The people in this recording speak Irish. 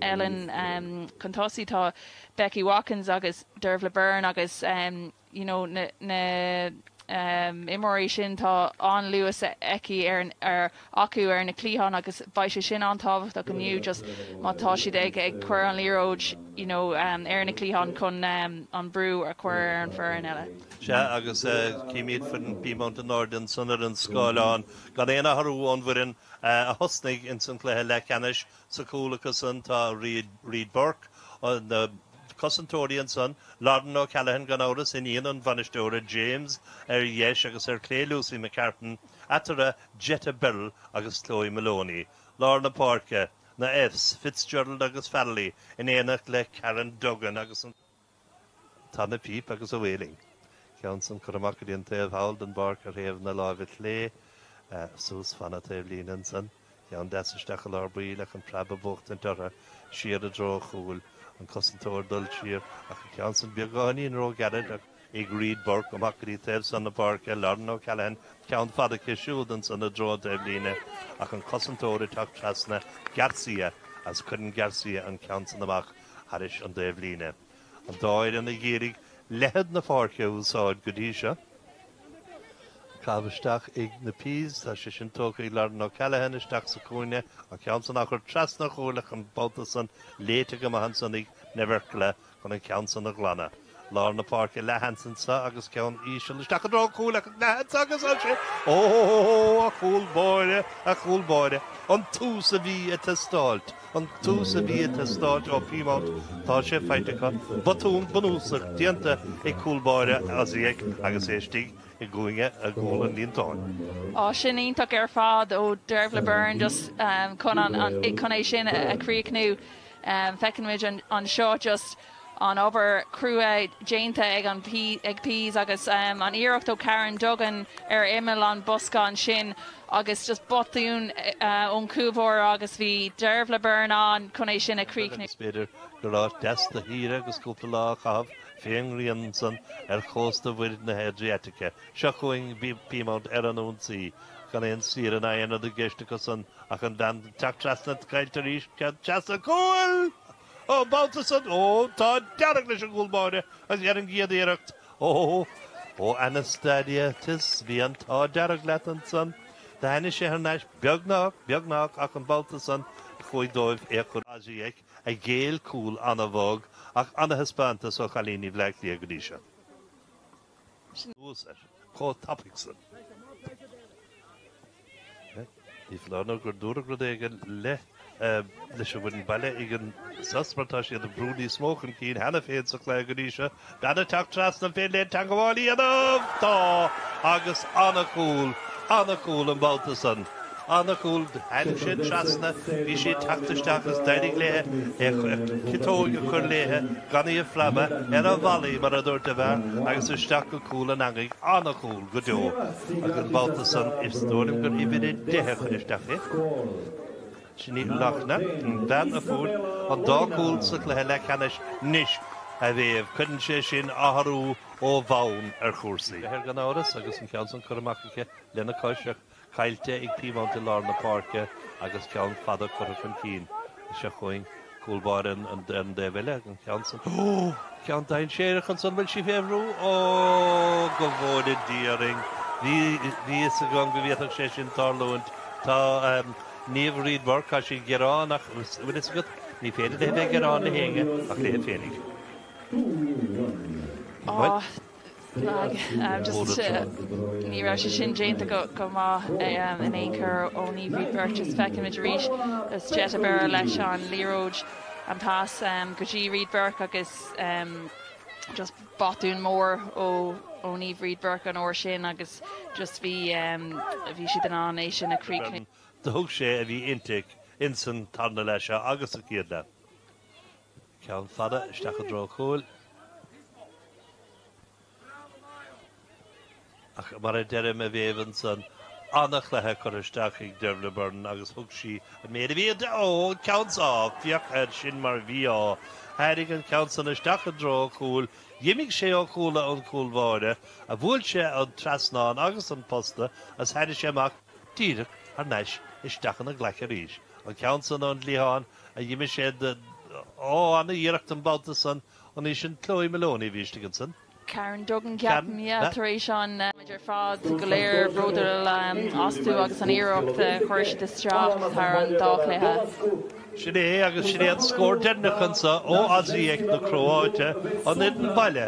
Ellen chun tosaigh, tá Becky Watkins agus Dearbhaile Beirne agus you know na na imreoirí sin tá an-luas aici ar ar acu ar na cliatháin agus beidh sé sin an-tábhachtach inniu just má tá siad ag ag cuir an liathróid you know ar na cliatháin chun an brú a cuir ar an foireann eile. Sea agus címid foireann Peamount in airde ansan ar an scáileán gan aon athrú ón bhfoireann a thosnaigh insan cluiche leathcheannais. Sa chúl acu san tá Reid Burke, na cosantóirí ansan, Lauryn O'Callaghan gan amhras, iníon an bhainisteora James ar dheis agus ar clé Lucy McCartan, eatarthu Jetta Berrill agus Chloe Moloney, lár na páirce, na Fs, Fitzgerald agus Farrelly in éineacht le Karen Duggan agus an. Tá na píp agus a bhfuiling. Ceann san curtha amach go dtí an taobh thall den bpáirc ar thaobh na láimhe clé, suas fan na taobh-líne ansan, ceann deas isteach i lár baill ach an preab ag buachtaint ortha, siar i dtreo an chúil, an cosantóir dul siar ach an ceann san beagáinín ró ghairid ag Reid Burke amach go dtí taobh san na páirce, Lauryn O'Callaghan, ceann fada aici siúd ansan i dtreo an taobh-líne ach an cosantóir ag teacht treasna Garcia agus cuireann Garcia an ceann san amach. thairis an dtaobhlíne. An dá fhoireann ag iarraidh leithead na páirce a úsáid go dtí seo. An caitheamh isteach ag na Peas, tá sé sin tógtha ag Lauryn O'Callaghan isteach sa cúinne, an ceann san á chur trasna an chúil ach an babhta san, léite go maith ansan ag Nevrkla chun an ceann san a ghlanadh. Lár na páirce leathsheans anso agus ceann íseal isteach i dtreo an chúil ach leathsheans agus ansin Óóóóóó a chúl báire, a chúl báire. An tús a bhí ag teastáilt, an tús a bhí ag teastáilt ó Peamount tá sé faighte acu. Botún bunúsach déanta ag cúl báire Osijek agus é istigh i gcúinne i gcúl an líontáin. Á sin iontach ar fad ó Dearbhaile Beirne just chun an chun é sin a chríochnú. Feiceann muid anseo just an obair chrua déanta ag an ag Peas agus an iarracht ó Karen Duggan ar imeall an bosca ansin agus just botún ón chúl báire agus bhí Dearbhaile Beirne ann chun é sin a chríochnú. Is féidir gur áit deas do shaoire agus cúpla lá a chaitheamh fé an ngrian ansan ar chósta mhuir na hAdriatice. Seo chugainn Peamount ar an ionsaí gan aon saoire ná aon rud i gceist acusan ach an bhean ag teacht trasna caillte arís cead teasa a ghabhail! An babhta san, ó, an t-ádh dearg leis an gcúl báire agus ar an gcéad iarracht, ó, ó, Anastasiades, bhí an t-ádh dearg leat ansan, do tháinig sé thar n-ais, beagnách, beagnách, ach an babhta san, chuaigh dóibh é a chur Osijek a ghéill cúl ana-bhog ach ana-thaispeántas ó chailíní Bhleá Cliath go dtí seo. suas ar chomh tapaidh san. Ní foláir nó gur dúradh rud éigin le leis a bhain baile ag an sos mar tá siad ag brú níos mó chun cinn cheana féin sa chluiche go dtí seo. Ceann ag teacht trasna an féidir léi teangabháil a dhéanamh? Tá agus an-chúl, ana-chúl an babhta san. Ana-chúl tháinig sé trasna bhí sí ag teacht isteach is d'éirigh léithe a ciotóg a chur léithe gan í a phreabadh ar an volley mar a dúirt an fear agus isteach go cúl an eangaigh ana-chúl go deo agus an babhta san is dóigh liom gur uimhir a deich a chuir isteach í sin í Lojna an bhean a fuair an dá chúl sa cluiche leathcheannais anois a Mhéabh cuireann sé sin athrú ó bhonn ar chúrsaí. Beidh air gan amhras agus an ceann san curtha amach aici lena cois ach. caillte ag Peamount i lár na páirce agus ceann fada curtha chun cinn. Is seo chugainn, cúl báire an ar an dtaobh eile, an ceann san. Ceann dainséarach ansan, bhfuil sí fé bhrú? Ó! Go bhfóire Dia orainn! Bhí a fhios agam go bhféadfadh sé sin tarlúint. Tá Niamh Reid Burke, tá sí ag gearán ach bhfuil fhios agat, ní féidir léi bheith ag gearán le héinne ach léi féinig. Bhuel. Just ní raibh sé sin déanta go maith in aon chor ó Niamh Reid Burke is feicimid arís is Jetta Berrill leis an liathróid an pas go dtí Reid Burke agus just botún mór ó Niamh Reid Burke an uair sin agus just bhí bhí siad in ann é sin a chríochnú. Do thug sé a bhí inti insan tarna leath seo agus an chéad leath. Ceann fada isteach i dtreo chúil. Ach mar a deirim a Mhéabh ansan ana chluiche curtha isteach ag Dearbhaile Beirne agus thug sí an méid a bhí ó ceann san féach air sin mar bhí á tháinig an ceann san isteach i dtreo chúil. D'imigh sé ó chúla an chúl báire a bhuail sé an trasnán agus an posta is tháinig sé amach díreach thar n-ais isteach ina glaic arís. An ceann san ón gcliathán a d'imigh sé Ó ana iarracht an babhta san anois sin Chloe Moloney a bhí istigh ansan. Karen Duggan Ceapaim yeah yeah tar éis an. Muid ar fad go léir bródúil astu agus an iarracht a chuir siad isteach thar an dá chluiche. Sin é agus sin é an scór deireanach anso ó Osijek na Cróite an fhoireann baile.